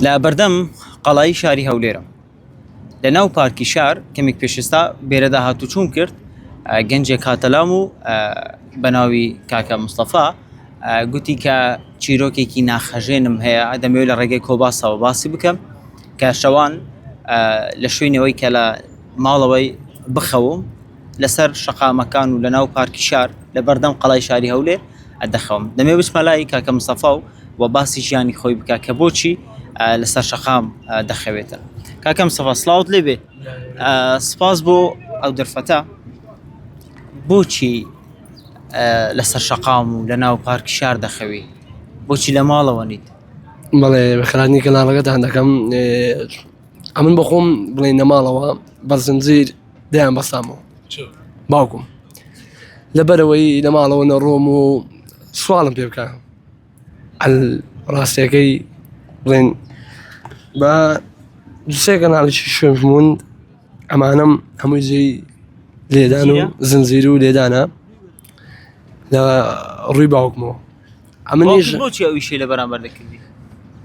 لە بەردەم قەڵایی شاری هەولێرم لە ناو پارکی شار کەمێک پێشستا بێرەدا هاتوچوون کرد گەنجێک هاتەلام و بە ناوی کاکە مستەفا گوتی کە چیرۆکێکی ناخەژێنم هەیە ئەدەمەوێت لە ڕێگەی کۆباسەوە باسی بکەم کە شەوان لە شوێنەوەی کە لە ماڵەوەی بخەوم لەسەر شەقامەکان و لەناو پارکی شار لە بەردەم قەڵای شاری هەولێر دەخەوم دەمێ بچمە لای کاکە مستەفا و و باسی ژیانی خۆی بکە کە بۆچی لەسەر شەقام دەخەوێتە کاکەم سەفا سلااوت لێ بێ سپاس بۆ ئەو دەرفەتە بۆچی لەسەر شەقام و لە ناو پارک شار دەخەوی بۆچی لە ماڵەوە نیت بەڵێ بەخرانی کەناڵەکەتان دەکەم ئەمن بەخۆم بڵێ نەماڵەوە بەزنجیر دەیان بەسامەوە باوکم لەبەرەوەی لە ماڵەوە نەڕۆم و سوالم پێ بکە ڕاستەکەی بڵێن بە دوسێ کەناڵیی شوێژمون ئەمانم هەمووی جێی لێدان و زنجیر و لێدانە لە ڕووی باوکمەوە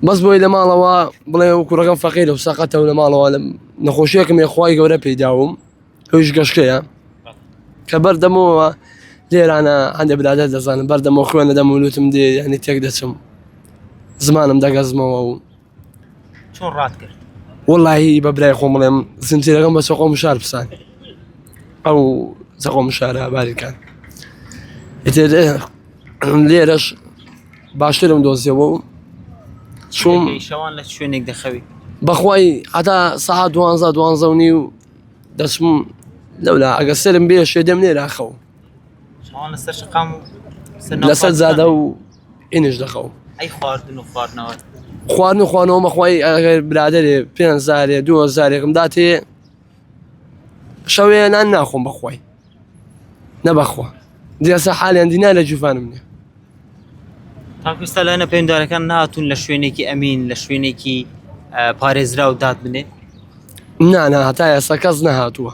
بەس بۆی لە ماڵەوە بڵێ و کوڕەکەم فەقیر و سەقەتە و لە ماڵەوە لە نەخۆشیەکەم یخوای گەورە پێداوم هۆیش گەشتەیە کە بەردەمەوە لێرانە هەندێک برادە دەزانم بەردەمە خوێنە دەمولوتم دێ یعنی تێک دەچم زمانم دەگەزمەوە و چۆن ڕات کرد وەڵی بە برای خۆم بڵێم زنجیرەکەم بە سەقۆ مشار پسان ئەو سەقۆ مشارە باریکان لێرەش باشترم دۆزیەوە و چوم شەوان لە شوێنێک دەخەوی بەخوای هەتا سەها دوانزە دوانزە و نی و دەچم لەولا ئەگە سرم بێ شێدەم لێرا خەو لەسەر زادە و ئینش دەخەوم ئەی خواردن و خواردنەوە خواردن و خوانەوە مەخوای ئەگەر برادێ پێ زارێ دو زارێکم داتێ شەوێ نان ناخۆم بەخوای نەبەخوا دیێسە حالیان دینا لە جوفانم نیە تاکوستا لایەنە پێدارەکان ناتون لە شوێنێکی ئەمین لە شوێنێکی پارێزرا و داد بنێ نانا هەتا ئێستا کەس نەهاتووە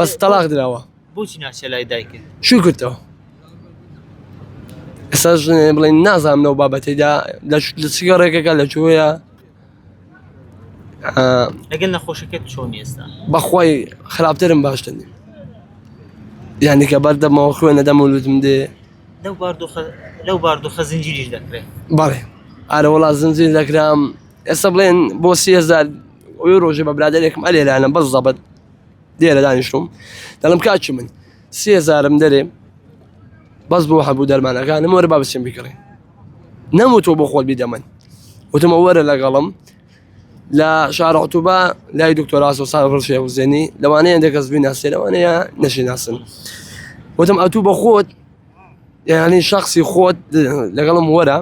بەس تەلاق دراوە بۆچی ناچێ لای دایکت شوی کردەوە ئێستا ژنێ بڵێن نازانم لەو بابەتێدا لە چگە ڕێکەکە لە جوۆیە لەگەل نەخۆشەکەت چۆن ئێستا بەخوای خراپترم باش دەنی یانیکە بەردەمەوە خوێنە دەم و لوتم دێ لەو باردۆخە لەو باردۆخە زنجیریش دەکرێت بەڵێ ئارە وڵات زنجیر دەکرام ئێستا بڵێن بۆ سیهزار ئەوی ڕۆژێ بە برادێکم ئەلێرانە بەس زەبەت لێرە دانیشتم دەڵم کاچی من سێزارم دەرێ بەس بۆ هەبوو دەرمانەکانم وەرە با بچم بکڕێ نەموتۆ بۆ خۆت بیدەمن وتمە وەرە لەگەڵم لە شارعتوبە لای دکتۆراسۆ سان ڕشێ حوزێنی لەوانەیە دەکەس بی ناسێ لەوانەیە نەشی ناسن وتم ئەتوو بە خۆت یعنی شخصی خۆت لەگەڵم وەرە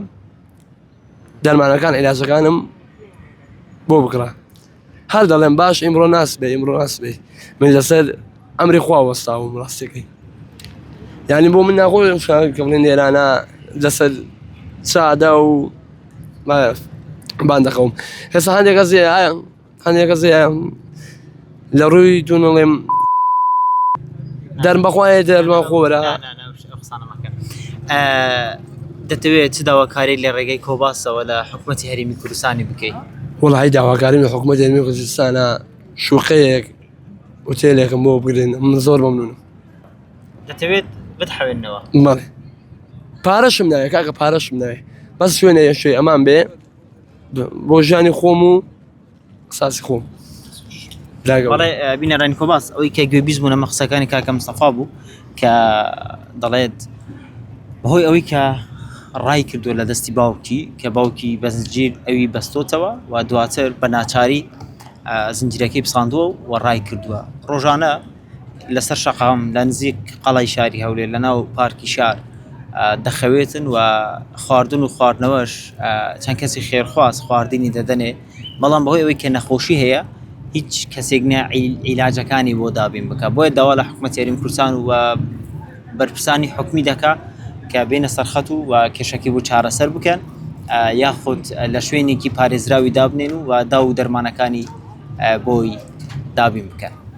دەرمانەکان عیلاجەکانم بۆ بکڕە هەر دەڵێم باش ئیمڕۆ ناس بێ ئیمڕۆ ناس بێ من لەسەر ئەمری خوا وەستاوم ڕاستەکەی یعنی بۆ من ناخۆم شکەڵێن نێرانە لەسەر سادا و باندەخەوم هێستا هەندێک ئەزیە هەنێکە زیان لە ڕووی دوونڵێم دەرمەخوایە دەرمان خۆرە دەتەوێت چ داواکاری لە ڕێگەی کۆباسەوە لە حکوومەتتی هەرمی کوردستانی بکەیت وڵی داواکاری لە حکوومەت هەرمی کوردستانە شوقەیەک وتێلێکم بۆ بگرن من زۆر مەمنون دەتەوێت بتحوێنەوە پارەشم ناوێت کاکە پارەشم ناوێت بەس شوێنە یەشێ ئەمان بێ بۆ ژیانی خۆم و قساسی خۆم بینەرانی کۆباس ئەوی کە گوێ بیست بوون ئەمە قسەکانی کاکەم سەفا بوو کە دەڵێت بەهۆی ئەوەی کە ڕای کردووە لە دەستی باوکی کە باوکی بەزنجیر ئەوی بەستۆتەوە و دواتر بە ناچاری زنجیرەکەی پساندووە و ڕای کردووە ڕۆژانە لەسەر شەقام لە نزیک قەڵای شاری هەولێر لە ناو پارکی شار دەخەوێتن و خواردن و خواردنەوەش چەند کەسی خێرخواز خواردنی دەدەنێ بەڵام بەهۆی ئەوەی کە نەخۆشی هەیە هیچ کەسێک نە عیلاجەکانی بۆ دابین بکە بۆیە داوا لە حکوومەت یاریین کوردستان و بەرپرسانی حکومی دەکا کە بێنە سەرخەت و و کێشەکی بۆ چارەسەر بکەن یاخود لە شوێنێکی پارێزراوی دابنێن و و دا و دەرمانەکانی بۆی دابین بکەن.